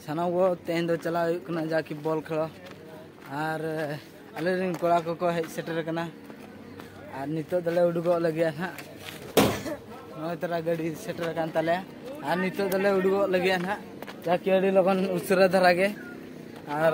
ᱥᱟᱱᱟᱢ ᱠᱚ ᱛᱮᱦᱮᱧ ᱫᱚ ᱪᱟᱞᱟᱣ ᱦᱩᱭᱩᱜ ᱠᱟᱱᱟ ᱡᱟᱠᱤ ᱵᱚᱞ ᱠᱷᱮᱞ ᱟᱨ ᱟᱞᱮ ᱨᱮᱱ ᱠᱚᱲᱟ ᱠᱚᱠᱚ ᱦᱮᱡ ᱥᱮᱴᱮᱨ ᱟᱠᱟᱱᱟ ᱟᱨ ᱱᱤᱛᱚᱜ ᱫᱚᱞᱮ ᱩᱰᱩᱠᱚᱜ ᱞᱟᱹᱜᱤᱫ ᱱᱟᱦᱟᱜ ᱱᱚᱜᱼᱚᱭ ᱛᱚᱨᱟ ᱜᱟᱹᱰᱤ ᱥᱮᱴᱮᱨ ᱟᱠᱟᱱ ᱛᱟᱞᱮᱭᱟ ᱟᱨ ᱱᱤᱛᱚᱜ ᱫᱚᱞᱮ ᱩᱰᱩᱠᱚᱜ ᱞᱟᱹᱜᱤᱫ ᱱᱟᱦᱟᱜ ᱡᱟᱠᱤ ᱟᱹᱰᱤ ᱞᱚᱜᱚᱱ ᱩᱥᱟᱹᱨᱟ ᱫᱷᱟᱨᱟ ᱜᱮ ᱟᱨ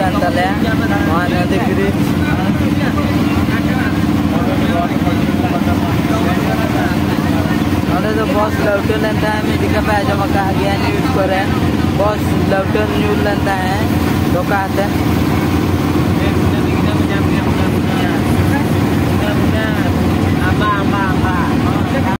ᱠᱟᱱ ᱛᱟᱞᱮᱭᱟ ᱱᱚᱣᱟ ᱱᱚᱫᱤ ᱵᱨᱤᱡᱽ ᱱᱚᱰᱮ ᱫᱚ ᱵᱚᱥ ᱞᱟᱹᱣᱴᱟᱹ ᱞᱮᱱ ᱛᱟᱦᱮᱸᱫ ᱢᱤᱫ ᱡᱚᱠᱷᱟ ᱯᱮ ᱟᱸᱡᱚᱢ ᱟᱠᱟᱫ ᱜᱮᱭᱟ ᱱᱤᱭᱩᱡᱽ ᱠᱚᱨᱮ ᱵᱚᱥ ᱞᱟᱹᱣᱴᱟᱹ ᱧᱩᱨ ᱞᱮᱱ ᱛᱟᱦᱮᱸᱫ ᱫᱷᱚᱠᱟ ᱟᱛᱮ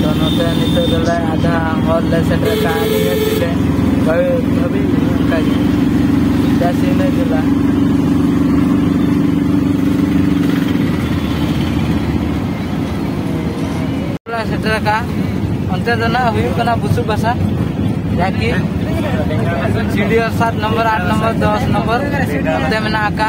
ᱛᱚ ᱱᱚᱛᱮ ᱱᱤᱛᱚᱜ ᱫᱚᱞᱮ ᱟᱫᱷᱟ ᱦᱚᱨ ᱞᱮ ᱥᱮᱴᱮᱨ ᱠᱟᱜᱼᱟ ᱱᱤᱭᱟᱹ ᱛᱮᱞᱮ ᱵᱷᱟᱹᱵᱤ ᱚᱱᱠᱟᱜᱮ ᱡᱟᱥ ᱤᱱᱟᱹ ᱡᱮᱞᱟ ᱥᱮᱴᱮᱨ ᱟᱠᱟᱜᱼᱟ ᱚᱱᱛᱮ ᱫᱚ ᱱᱟᱜ ᱦᱩᱭᱩᱜ ᱠᱟᱱᱟ ᱵᱩᱥᱩᱵ ᱵᱟᱥᱟ ᱡᱟᱠᱤ ᱥᱤᱰᱤᱭᱳ ᱥᱟᱛ ᱱᱚᱢᱵᱚᱨ ᱟᱴ ᱱᱚᱢᱵᱚᱨ ᱫᱚᱥ ᱱᱚᱢᱵᱚᱨ ᱚᱱᱛᱮ ᱢᱮᱱᱟᱜ ᱟᱠᱟᱜᱼᱟ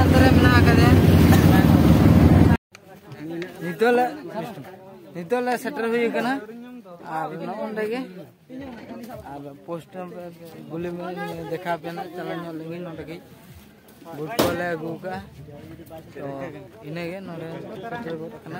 ᱱᱤᱛᱚᱜ ᱞᱮ ᱱᱤᱛᱚᱜ ᱞᱮ ᱥᱮᱴᱮᱨ ᱦᱩᱭ ᱟᱠᱟᱱᱟ ᱟᱨ ᱱᱚᱜᱼᱚᱸᱰᱮ ᱜᱮ ᱟᱨ ᱯᱳᱥᱴ ᱜᱩᱞᱤ ᱫᱮᱠᱷᱟᱣ ᱯᱮᱱᱟ ᱪᱟᱞᱟᱣ ᱧᱚᱜ ᱞᱮᱱᱜᱮ ᱱᱚᱸᱰᱮ ᱜᱮ ᱵᱩᱴ ᱠᱚᱞᱮ ᱟᱹᱜᱩ ᱟᱠᱟᱫᱼᱟ ᱛᱚ ᱤᱱᱟᱹᱜᱮ ᱱᱚᱸᱰᱮ ᱥᱮᱴᱮᱨ ᱜᱚᱫ ᱟᱠᱟᱱᱟ